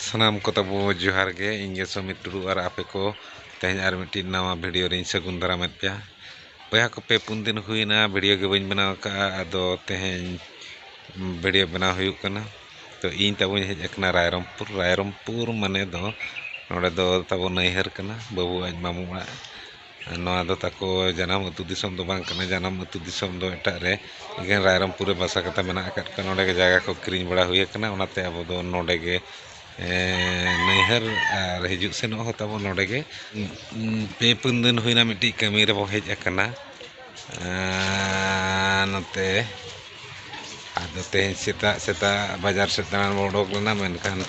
ᱥᱟᱱᱟᱢ ᱠᱚ ᱛᱟᱵᱚ ᱡᱚᱦᱟᱨ ᱜᱮ ᱤᱧ ᱜᱮ ᱥᱚᱢᱤᱛ ᱴᱩᱰᱩ ᱟᱨ ᱟᱯᱮ ᱠᱚ ᱛᱮᱦᱮᱧ ᱟᱨ ᱢᱤᱫᱴᱤᱡ ᱱᱟᱣᱟ ᱵᱷᱤᱰᱤᱭᱳ ᱨᱤᱧ ᱥᱟᱹᱜᱩᱱ ᱫᱟᱨᱟᱢᱮᱫ ᱯᱮᱭᱟ ᱵᱚᱭᱦᱟ ᱠᱚ ᱯᱮ ᱯᱩᱱ ᱫᱤᱱ ᱦᱩᱭᱱᱟ ᱵᱷᱤᱰᱤᱭᱳ ᱜᱮ ᱵᱟᱹᱧ ᱵᱮᱱᱟᱣ ᱟᱠᱟᱫᱼᱟ ᱟᱫᱚ ᱛᱮᱦᱮᱧ ᱵᱷᱤᱰᱤᱭᱳ ᱵᱮᱱᱟᱣ ᱦᱩᱭᱩᱜ ᱠᱟᱱᱟ ᱛᱚ ᱤᱧ ᱛᱟᱵᱚᱧ ᱦᱮᱡ ᱟᱠᱟᱱᱟ ᱨᱟᱭᱨᱚᱢᱯᱩᱨ ᱨᱟᱭᱨᱚᱢᱯᱩᱨ ᱢᱟᱱᱮ ᱫᱚ ᱱᱚᱰᱮ ᱫᱚ ᱛᱟᱵᱚ ᱱᱟᱹᱭᱦᱟᱹᱨ ᱠᱟᱱᱟ ᱵᱟᱹᱵᱩ ᱟᱡ ᱢᱟᱢᱚ ᱚᱲᱟᱜ ᱱᱚᱣᱟ ᱫᱚ ᱛᱟᱠᱚ ᱡᱟᱱᱟᱢ ᱟᱹᱛᱩ ᱫᱤᱥᱚᱢ ᱫᱚ ᱵᱟᱝ ᱠᱟᱱᱟ ᱡᱟᱱᱟᱢ ᱟᱹᱛᱩ ᱫᱤᱥᱚᱢ ᱫᱚ ᱮᱴᱟᱜ ᱨᱮ ᱮᱠᱮᱱ ᱨᱟᱭᱨᱚᱝᱯᱩᱨ ᱨᱮ ᱵᱟᱥᱟ ᱠᱟᱛᱮ ᱢᱮᱱᱟᱜ ᱟᱠᱟᱫ ᱠᱚᱣᱟ ᱱᱚᱰᱮ ᱜᱮ ᱡᱟᱭᱜᱟ ᱠᱚ ᱠᱤᱨᱤᱧ ᱵᱟᱲᱟ ᱦᱩᱭ ᱟᱠᱟᱱᱟ ᱚᱱᱟᱛᱮ ᱟᱵᱚ ᱫᱚ ᱱᱚᱰᱮ ᱜᱮ ᱱᱟᱹᱭᱦᱟᱹᱨ ᱟᱨ ᱦᱤᱡᱩᱜ ᱥᱮᱱᱚᱜ ᱦᱚᱸ ᱛᱟᱵᱚ ᱱᱚᱰᱮ ᱜᱮ ᱯᱮ ᱯᱩᱱ ᱫᱤᱱ ᱦᱩᱭᱱᱟ ᱢᱤᱫᱴᱤᱡ ᱠᱟᱹᱢᱤ ᱨᱮᱵᱚ ᱦᱮᱡ ᱟᱠᱟᱱᱟ ᱱᱚᱛᱮ ᱟᱫᱚ ᱛᱮᱦᱮᱧ ᱥᱮᱛᱟᱜ ᱥᱮᱛᱟᱜ ᱵᱟᱡᱟᱨ ᱥᱮᱫ ᱫᱟᱬᱟᱱ ᱵᱚᱱ ᱚᱰᱚᱠ ᱞᱮᱱᱟ ᱢᱮᱱᱠᱷᱟᱱ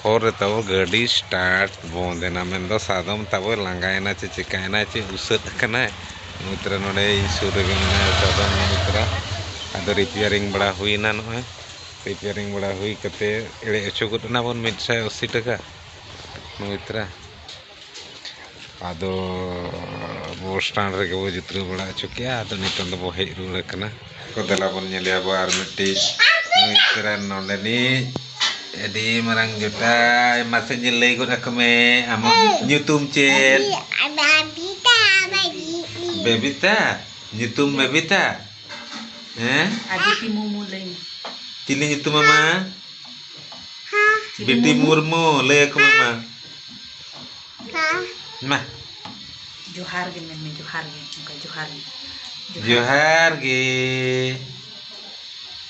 ᱦᱚᱨ ᱨᱮ ᱛᱟᱵᱚ ᱜᱟᱹᱰᱤ ᱥᱴᱟᱨᱴ ᱵᱚᱱᱫ ᱮᱱᱟ ᱢᱮᱱᱫᱚ ᱥᱟᱫᱚᱢ ᱛᱟᱵᱚᱭ ᱞᱟᱸᱜᱟᱭᱮᱱᱟ ᱥᱮ ᱪᱤᱠᱟᱹᱭᱮᱱᱟᱭ ᱥᱮ ᱩᱥᱟᱹᱫ ᱟᱠᱟᱱᱟᱭ ᱱᱩᱭ ᱛᱟᱨᱟ ᱱᱚᱰᱮ ᱤᱧ ᱥᱩᱨ ᱨᱮᱜᱮ ᱢᱮᱱᱟᱭᱟ ᱥᱟᱫᱚᱢ ᱱᱩᱭ ᱛᱟᱨᱟ ᱟᱫᱚ ᱨᱤᱯᱮᱭᱟᱨᱤᱝ ᱵᱟᱲᱟ ᱦᱩᱭᱮᱱᱟ ᱱᱚᱜᱼᱚᱸᱭ ᱨᱤᱯᱮᱭᱟᱨᱤᱝ ᱵᱟᱲᱟ ᱦᱩᱭ ᱠᱟᱛᱮᱫ ᱮᱲᱮ ᱦᱚᱪᱚ ᱜᱚᱫ ᱮᱱᱟ ᱵᱚᱱ ᱢᱤᱫ ᱥᱟᱭ ᱟᱹᱥᱤ ᱴᱟᱠᱟ ᱱᱩᱭ ᱛᱟᱨᱟ ᱟᱫᱚ ᱵᱚᱥ ᱥᱴᱮᱱᱰ ᱨᱮᱜᱮ ᱵᱚᱱ ᱡᱤᱛᱨᱟᱹᱣ ᱵᱟᱲᱟ ᱦᱚᱪᱚ ᱠᱮᱫᱼᱟ ᱟᱫᱚ ᱱᱤᱛᱚᱝ ᱫᱚᱵᱚᱱ ᱦᱮᱡ ᱨᱩᱣᱟᱹᱲ ᱟᱠᱟᱱᱟ ᱛᱚ ᱫᱮᱞᱟ ᱵᱚᱱ ᱧᱮᱞᱮᱭᱟ ᱟᱵᱚ ᱟᱨ ᱢᱤᱫᱴᱤᱡ ᱱᱩᱭ ᱛᱟᱨᱟᱱ ᱱᱚᱰᱮᱱᱤᱡ ᱟᱹᱰᱤ ᱢᱟᱨᱟᱝ ᱡᱚᱴᱟᱣ ᱢᱟᱥᱮ ᱧᱮᱞ ᱞᱟᱹᱭ ᱜᱚᱫ ᱟᱠᱚ ᱢᱮ ᱟᱢᱟᱜ ᱧᱩᱛᱩᱢ ᱪᱮᱫ ᱵᱮᱵᱤᱛᱟ ᱵᱮᱵᱤᱛᱟ ᱧᱩᱛᱩᱢ ᱵᱮᱵᱤᱛᱟ ᱦᱮᱸ ᱟᱫᱤᱛᱤ ᱢᱩᱨᱢᱩ ᱞᱟᱹᱭ ᱢᱮ ᱪᱤᱞᱤ ᱧᱩᱛᱩᱢ ᱢᱟᱢᱟ ᱵᱤᱴᱤ ᱢᱩᱨᱢᱩ ᱞᱟᱹᱭ ᱟᱠᱚ ᱢᱟᱢᱟ ᱢᱟ ᱡᱚᱦᱟᱨ ᱜᱮ ᱢᱮᱱ ᱢᱮ ᱡᱚᱦᱟᱨ ᱜᱮ ᱚᱱᱠᱟ ᱡᱚᱦᱟᱨ ᱜᱮ ᱡᱚᱦᱟᱨ ᱜᱮ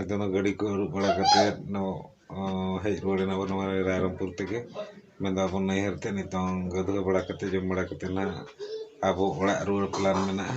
ᱟᱫᱚ ᱚᱱᱟ ᱜᱟᱹᱰᱤ ᱠᱚ ᱟᱹᱨᱩᱵ ᱵᱟᱲᱟ ᱠᱟᱛᱮᱫ ᱦᱮᱡ ᱨᱩᱣᱟᱹᱲ ᱮᱱᱟᱵᱚᱱ ᱱᱚᱣᱟ ᱨᱟᱭᱨᱚᱝᱯᱩᱨ ᱛᱮᱜᱮ ᱢᱮᱱ ᱮᱫᱟ ᱵᱚᱱ ᱱᱟᱹᱭᱦᱟᱹᱨ ᱛᱮ ᱱᱤᱛᱚᱝ ᱜᱟᱹᱫᱷᱟᱹᱣ ᱵᱟᱲᱟ ᱠᱟᱛᱮᱫ ᱡᱚᱢ ᱵᱟᱲᱟ ᱠᱟᱛᱮᱫ ᱦᱟᱸᱜ ᱟᱵᱚ ᱚᱲᱟᱜ ᱨᱩᱣᱟᱹᱲ ᱯᱞᱮᱱ ᱢᱮᱱᱟᱜᱼᱟ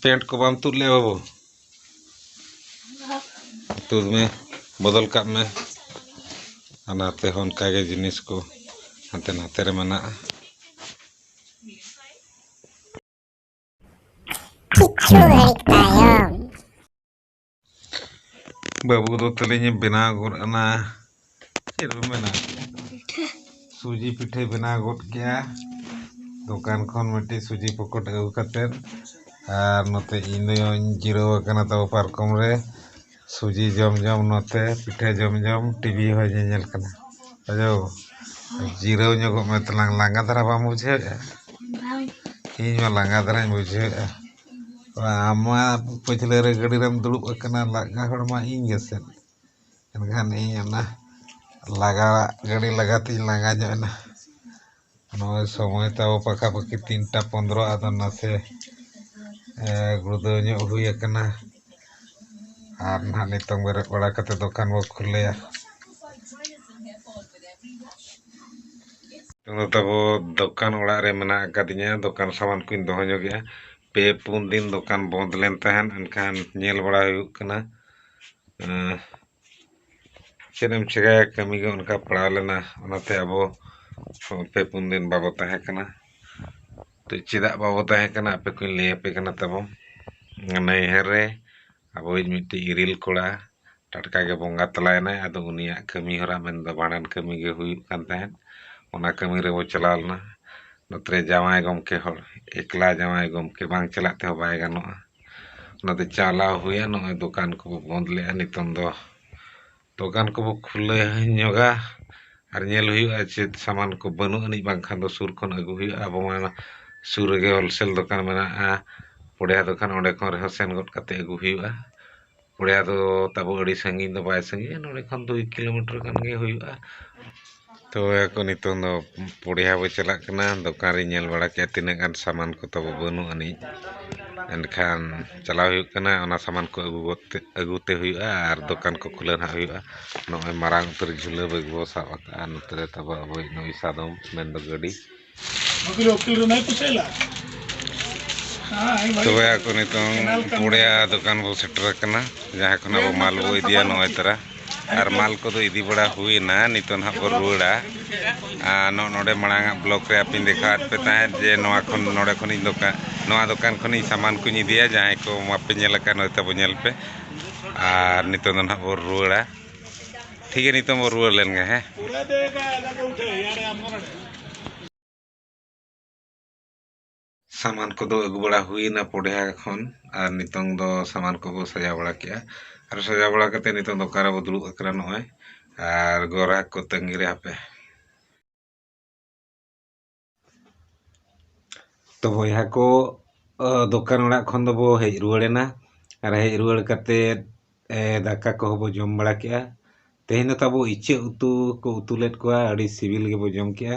ᱯᱮᱱᱴ ᱠᱚ ᱵᱟᱢ ᱛᱩᱫ ᱞᱮᱜᱼᱟ ᱵᱟᱹᱵᱩ ᱛᱩᱫ ᱢᱮ ᱵᱚᱫᱚᱞ ᱠᱟᱜ ᱢᱮ ᱚᱱᱟ ᱛᱮᱦᱚᱸ ᱚᱱᱠᱟᱜᱮ ᱡᱤᱱᱤᱥ ᱠᱚ ᱦᱟᱱᱛᱮ ᱱᱟᱛᱮ ᱨᱮ ᱢᱮᱱᱟᱜᱼᱟ ᱠᱤᱪᱷᱩ ᱜᱷᱟᱹᱲᱤᱡ ᱛᱟᱭᱚᱢ ᱵᱟᱹᱵᱩ ᱫᱚ ᱛᱟᱹᱞᱤᱧ ᱵᱮᱱᱟᱣ ᱜᱚᱫ ᱮᱱᱟ ᱪᱮᱫ ᱵᱚ ᱢᱮᱱᱟ ᱥᱩᱡᱤ ᱯᱤᱴᱷᱟᱹᱭ ᱵᱮᱱᱟᱣ ᱜᱚᱫ ᱠᱮᱜᱼᱟ ᱫᱚᱠᱟᱱ ᱠᱷᱚᱱ ᱢᱤᱫᱴᱤᱡ ᱥᱩᱡᱤ ᱯᱚᱠᱚᱴ ᱟᱹᱜᱩ ᱠᱟᱛᱮᱫ ᱟᱨ ᱱᱚᱛᱮ ᱤᱧ ᱫᱚᱧ ᱡᱤᱨᱟᱹᱣ ᱟᱠᱟᱱᱟ ᱛᱟᱵᱚ ᱯᱟᱨᱠᱚᱢ ᱨᱮ ᱥᱩᱡᱤ ᱡᱚᱢ ᱡᱚᱢ ᱱᱚᱛᱮ ᱯᱤᱴᱷᱟᱹ ᱡᱚᱢ ᱡᱚᱢ ᱴᱤᱵᱷᱤ ᱦᱚᱸᱭ ᱧᱮᱧᱮᱞ ᱠᱟᱱᱟ ᱟᱫᱚ ᱡᱤᱨᱟᱹᱣ ᱧᱚᱜᱚᱜ ᱢᱮ ᱛᱟᱞᱟᱝ ᱞᱟᱸᱜᱟ ᱫᱷᱟᱨᱟ ᱵᱟᱢ ᱵᱩᱡᱷᱟᱹᱣᱮᱫᱼᱟ ᱤᱧ ᱢᱟ ᱞᱟᱸᱜᱟ ᱫᱷᱟᱨᱟᱧ ᱵᱩᱡᱷᱟᱹᱣᱮᱫᱼᱟ ᱟᱢ ᱢᱟ ᱯᱟᱹᱪᱷᱞᱟᱹ ᱨᱮ ᱜᱟᱹᱰᱤ ᱨᱮᱢ ᱫᱩᱲᱩᱵ ᱟᱠᱟᱱᱟ ᱞᱟᱸᱜᱟ ᱦᱚᱲ ᱢᱟ ᱤᱧ ᱜᱮᱥᱮ ᱮᱱᱠᱷᱟᱱ ᱤᱧ ᱚᱱᱟ ᱞᱟᱸᱜᱟ ᱜᱟᱹᱰᱤ ᱞᱟᱸᱜᱟ ᱛᱤᱧ ᱞᱟᱸᱜᱟ ᱧᱚᱜ ᱮᱱᱟ ᱱᱚᱜᱼᱚᱭ ᱥᱚᱢᱚᱭ ᱛᱟᱵᱚ ᱯᱟᱠᱟ ᱯᱟᱠᱤ ᱛᱤᱱᱴᱟ ᱯᱚᱱᱨᱚ ᱟᱫᱚ ᱱᱟᱥᱮ ᱜᱩᱲᱫᱟᱹᱣ ᱧᱚᱜ ᱦᱩᱭ ᱟᱠᱟᱱᱟ ᱟᱨ ᱱᱟᱜ ᱱᱤᱛᱚᱝ ᱵᱮᱨᱮᱫ ᱵᱟᱲᱟ ᱠᱟᱛᱮᱫ ᱫᱚᱠᱟᱱ ᱵᱚᱱ ᱠᱷᱩᱞᱟᱹᱭᱟ ᱱᱤᱛᱚᱝ ᱫᱚ ᱛᱟᱵᱚ ᱫᱚᱠᱟᱱ ᱚᱲᱟᱜ ᱨᱮ ᱢᱮᱱᱟᱜ ᱟᱠᱟᱫᱤᱧᱟ ᱫᱚᱠᱟᱱ ᱥᱟᱢᱟᱱ ᱠᱚᱧ ᱫᱚᱦᱚ ᱧᱚᱜᱮᱜᱼᱟ ᱯᱮ ᱯᱩᱱ ᱫᱤᱱ ᱫᱚᱠᱟᱱ ᱵᱚᱱᱫᱽ ᱞᱮᱱ ᱛᱟᱦᱮᱸᱫ ᱮᱱᱠᱷᱟᱱ ᱧᱮᱞ ᱵᱟᱲᱟ ᱦᱩᱭᱩᱜ ᱠᱟᱱᱟ ᱪᱮᱫ ᱮᱢ ᱪᱮᱠᱟᱭᱟ ᱠᱟᱹᱢᱤ ᱜᱮ ᱚᱱᱠᱟ ᱯᱟᱲᱟᱣ ᱞᱮᱱᱟ ᱚᱱᱟᱛᱮ ᱟᱵᱚ ᱯᱮ ᱯᱩᱱ ᱫᱤᱱ ᱵᱟᱵᱚ ᱛᱟᱦᱮᱸ ᱠᱟᱱᱟ ᱛᱚ ᱪᱮᱫᱟᱜ ᱵᱟᱵᱚ ᱛᱟᱦᱮᱸ ᱠᱟᱱᱟ ᱟᱯᱮ ᱠᱚᱧ ᱞᱟᱹᱭ ᱟᱯᱮ ᱠᱟᱱᱟ ᱛᱟᱵᱚ ᱱᱟᱹᱭᱦᱟᱹᱨ ᱨᱮ ᱟᱵᱚᱭᱤᱡ ᱢᱤᱫᱴᱤᱡ ᱤᱨᱤᱞ ᱠᱚᱲᱟ ᱴᱟᱴᱠᱟ ᱜᱮ ᱵᱚᱸᱜᱟ ᱛᱟᱞᱟᱭᱮᱱᱟᱭ ᱟᱫᱚ ᱩᱱᱤᱭᱟᱜ ᱠᱟᱹᱢᱤ ᱦᱚᱨᱟ ᱢᱮᱱᱫᱚ ᱵᱷᱟᱸᱰᱟᱱ ᱠᱟᱹᱢᱤ ᱜᱮ ᱦᱩᱭᱩᱜ ᱠᱟᱱ ᱛᱟᱦᱮᱸᱫ ᱚᱱᱟ ᱠᱟᱹᱢᱤ ᱨᱮᱵᱚ ᱪᱟᱞᱟᱣ ᱞᱮᱱᱟ ᱱᱚᱛᱮ ᱨᱮ ᱡᱟᱶᱟᱭ ᱜᱚᱢᱠᱮ ᱦᱚᱲ ᱮᱠᱞᱟ ᱡᱟᱶᱟᱭ ᱜᱚᱢᱠᱮ ᱵᱟᱝ ᱪᱟᱞᱟᱜ ᱛᱮᱦᱚᱸ ᱵᱟᱭ ᱜᱟᱱᱚᱜᱼᱟ ᱚᱱᱟᱛᱮ ᱪᱟᱞᱟᱣ ᱦᱩᱭᱮᱱ ᱱᱚᱜᱼᱚᱭ ᱫᱚᱠᱟᱱ ᱠᱚᱵᱚ ᱵᱚᱸᱫᱽ ᱞᱮᱫᱼᱟ ᱱᱤᱛᱚᱝ ᱫᱚ ᱫᱚᱠᱟᱱ ᱠᱚᱵᱚ ᱠᱷᱩᱞᱟᱹᱣ ᱧᱚᱜᱟ ᱟᱨ ᱧᱮᱞ ᱦᱩᱭᱩᱜᱼᱟ ᱪᱮᱫ ᱥᱟᱢᱟᱱ ᱠᱚ ᱵᱟᱹᱱᱩᱜ ᱟᱹᱱᱤᱡ ᱵᱟᱝᱠᱷᱟᱱ ᱫᱚ ᱥᱩᱨ ᱠᱷᱚᱱ ᱟᱹᱜᱩ ᱦᱩᱭᱩᱜᱼᱟ ᱟᱵᱚ ᱢᱟ ᱥᱩᱨ ᱨᱮᱜᱮ ᱦᱳᱞᱥᱮᱞ ᱫᱚᱠᱟᱱ ᱢᱮᱱᱟᱜᱼᱟ ᱯᱚᱲᱭᱟ ᱫᱚᱠᱟᱱ ᱚᱸᱰᱮ ᱠᱷᱚᱱ ᱨᱮᱦᱚᱸ ᱥᱮᱱ ᱜᱚᱫ ᱠᱟᱛᱮᱫ ᱟᱹᱜᱩ ᱦᱩᱭᱩᱜᱼᱟ ᱯᱚᱲᱭᱟ ᱫᱚ ᱛᱟᱵᱚ ᱟᱹᱰᱤ ᱥᱟᱺᱜᱤᱧ ᱫᱚ ᱵᱟᱭ ᱥᱟᱺᱜᱤᱧᱟ ᱱᱚᱰᱮ ᱠᱷᱚᱱ ᱫᱩᱭ ᱠᱤᱞᱳᱢᱤᱴᱟᱨ ᱜᱟᱱ ᱜᱮ ᱦᱩᱭᱩᱜᱼᱟ ᱛᱚᱵᱮ ᱟᱠᱚ ᱱᱤᱛᱳᱝ ᱫᱚ ᱯᱚᱲᱭᱟ ᱵᱚᱱ ᱪᱟᱞᱟᱜ ᱠᱟᱱᱟ ᱫᱚᱠᱟᱱ ᱨᱤᱧ ᱧᱮᱞ ᱵᱟᱲᱟ ᱠᱮᱫᱟ ᱛᱤᱱᱟᱹᱜ ᱜᱟᱱ ᱥᱟᱢᱟᱱ ᱠᱚ ᱛᱟᱵᱚ ᱵᱟᱹᱱᱩᱜ ᱟᱹᱱᱤᱡ ᱮᱱᱠᱷᱟᱱ ᱪᱟᱞᱟᱣ ᱦᱩᱭᱩᱜ ᱠᱟᱱᱟ ᱚᱱᱟ ᱥᱟᱢᱟᱱ ᱠᱚ ᱟᱹᱜᱩ ᱜᱚᱫ ᱛᱮ ᱟᱹᱜᱩ ᱛᱮ ᱦᱩᱭᱩᱜᱼᱟ ᱟᱨ ᱫᱚᱠᱟᱱ ᱠᱚ ᱠᱷᱩᱞᱟᱹᱣ ᱱᱟᱦᱟᱜ ᱦᱩᱭᱩᱜᱼᱟ ᱱᱚᱜᱼᱚᱭ ᱢᱟᱨᱟᱝ ᱩᱛᱟᱹᱨ ᱡᱷᱩᱞᱟᱹ ᱵᱮᱜᱽ ᱵᱚᱱ ᱥᱟᱵ ᱟᱠᱟᱫᱼᱟ ᱱᱚᱛᱮ ᱨᱮ ᱛᱟᱵᱚ ᱟᱵᱚᱭᱤᱡ ᱱᱩᱭ ᱥᱟᱫᱚᱢ ᱢᱮᱱᱫᱚ ᱜᱟᱹᱰᱤ ᱵᱟᱹᱠᱤᱞ ᱵᱟᱹᱠᱤᱞ ᱨᱮ ᱱᱟᱭ ᱯᱩᱥᱟᱹᱭ ᱞᱟ ᱛᱚᱵᱮ ᱟᱠᱚ ᱱᱤᱛᱚᱝ ᱯᱩᱲᱭᱟ ᱫᱚᱠᱟᱱ ᱵᱚ ᱥᱮᱴᱮᱨ ᱟᱠᱟᱱᱟ ᱡᱟᱦᱟᱸ ᱠᱷᱚᱱ ᱟᱵᱚ ᱢᱟᱞ ᱵᱚ ᱤᱫᱤᱭᱟ ᱱᱚᱜᱼᱚᱭ ᱛᱟᱨᱟ ᱟᱨ ᱢᱟᱞ ᱠᱚᱫᱚ ᱤᱫᱤ ᱵᱟᱲᱟ ᱦᱩᱭᱱᱟ ᱱᱤᱛᱚᱝ ᱦᱟᱸᱜ ᱵᱚ ᱨᱩᱣᱟᱹᱲᱟ ᱟᱨ ᱱᱚᱜᱼᱚ ᱱᱚᱰᱮ ᱢᱟᱲᱟᱝ ᱟᱜ ᱵᱞᱚᱠ ᱨᱮ ᱟᱯᱮᱧ ᱫᱮᱠᱷᱟᱣᱟᱫ ᱯᱮ ᱛᱟᱦᱮᱸᱫ ᱡᱮ ᱱᱚᱣᱟ ᱠᱷᱚᱱ ᱱᱚᱰᱮ ᱠᱷᱚᱱᱤᱧ ᱫᱚᱠᱟᱱ ᱱᱚᱣᱟ ᱫᱚᱠᱟᱱ ᱠᱷᱚᱱᱤᱧ ᱥᱟᱢᱟᱱ ᱠᱚᱧ ᱤᱫᱤᱭᱟ ᱡᱟᱦᱟᱸᱭ ᱠᱚ ᱵᱟᱯᱮ ᱧᱮᱞ ᱟᱠᱟᱫ ᱱᱚᱜᱼᱚᱭ ᱛᱟᱵᱚ ᱧᱮᱞ ᱯᱮ ᱟᱨ ᱱᱤᱛᱚᱝ ᱫᱚ ᱦᱟᱸᱜ ᱵᱚ ᱨᱩᱣᱟᱹᱲᱟ ᱴᱷᱤᱠ ᱜᱮᱭᱟ ᱱᱤᱛᱚᱝ ᱵᱚᱱ ᱨᱩᱣᱟᱹᱲ ᱞᱮᱱ ᱜᱮ ᱦᱮᱸ ᱥᱟᱢᱟᱱ ᱠᱚᱫᱚ ᱟᱹᱜᱩ ᱵᱟᱲᱟ ᱦᱩᱭᱱᱟ ᱯᱚᱰᱮᱦᱟ ᱠᱷᱚᱱ ᱟᱨ ᱱᱤᱛᱚᱝ ᱫᱚ ᱥᱟᱢᱟᱱ ᱠᱚᱵᱚ ᱥᱟᱡᱟᱣ ᱵᱟᱲᱟ ᱠᱮᱜᱼᱟ ᱟᱨ ᱥᱟᱡᱟᱣ ᱵᱟᱲᱟ ᱠᱟᱛᱮ ᱱᱤᱛᱚᱝ ᱫᱚᱠᱟᱱ ᱨᱮᱵᱚ ᱫᱩᱲᱩᱵ ᱟᱠᱟᱱᱟ ᱱᱚᱜᱼᱚᱭ ᱟᱨ ᱜᱚᱨᱟᱠ ᱠᱚ ᱛᱟᱹᱝᱜᱤ ᱨᱮ ᱦᱟᱯᱮ ᱛᱚ ᱵᱚᱭᱦᱟ ᱠᱚ ᱫᱚᱠᱟᱱ ᱚᱲᱟᱜ ᱠᱷᱚᱱ ᱫᱚᱵᱚ ᱦᱮᱡ ᱨᱩᱣᱟᱹᱲ ᱮᱱᱟ ᱟᱨ ᱦᱮᱡ ᱨᱩᱣᱟᱹᱲ ᱠᱟᱛᱮᱫ ᱫᱟᱠᱟ ᱠᱚᱦᱚᱸ ᱵᱚ ᱡᱚᱢ ᱵᱟᱲᱟ ᱠᱮᱜᱼᱟ ᱛᱮᱦᱮᱧ ᱫᱚ ᱛᱟᱵᱚ ᱤᱪᱟᱹᱜ ᱩᱛᱩ ᱠᱚ ᱩᱛᱩ ᱞᱮᱫ ᱠᱚᱣᱟ ᱟᱹᱰᱤ ᱥᱤᱵᱤᱞ ᱜᱮᱵᱚ ᱡᱚᱢ ᱠᱮᱜᱼᱟ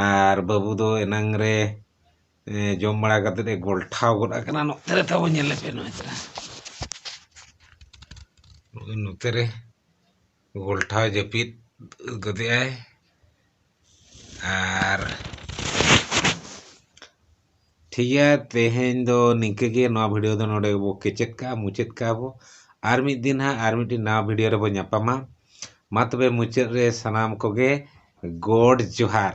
ᱟᱨ ᱵᱟᱹᱵᱩ ᱫᱚ ᱮᱱᱟᱝ ᱨᱮ ᱡᱚᱢ ᱵᱟᱲᱟ ᱠᱟᱛᱮᱫ ᱮ ᱜᱚᱞᱴᱷᱟᱣ ᱜᱚᱫ ᱟᱠᱟᱱᱟ ᱱᱚᱛᱮ ᱨᱮ ᱛᱟᱵᱚ ᱧᱮᱞᱮ ᱯᱮ ᱱᱚᱜᱼᱚᱭ ᱛᱚᱨᱟ ᱱᱚᱜᱼᱚᱭ ᱱᱚᱛᱮ ᱨᱮ ᱜᱷᱚᱞᱴᱟᱣ ᱡᱟᱹᱯᱤᱫ ᱜᱚᱫᱮᱜᱼᱟᱭ ᱟᱨ ᱴᱷᱤᱠ ᱜᱮᱭᱟ ᱛᱮᱦᱮᱧ ᱫᱚ ᱱᱤᱝᱠᱟᱹ ᱜᱮ ᱱᱚᱣᱟ ᱵᱷᱤᱰᱤᱭᱳ ᱫᱚ ᱱᱚᱰᱮ ᱜᱮᱵᱚ ᱠᱮᱪᱮᱫ ᱠᱟᱜᱼᱟ ᱢᱩᱪᱟᱹᱫ ᱠᱟᱜᱼᱟ ᱵᱚ ᱟᱨ ᱢᱤᱫ ᱫᱤᱱ ᱦᱟᱸᱜ ᱟᱨ ᱢᱤᱫᱴᱤᱡ ᱱᱟᱣᱟ ᱵᱷᱤᱰᱤᱭᱳ ᱨᱮᱵᱚ ᱧᱟᱯᱟᱢᱟ ᱢᱟ ᱛᱚᱵᱮ ᱢᱩᱪᱟᱹᱫ ᱨᱮ ᱥᱟᱱᱟᱢ ᱠᱚᱜᱮ ᱜᱚᱰ ᱡᱚᱦᱟᱨ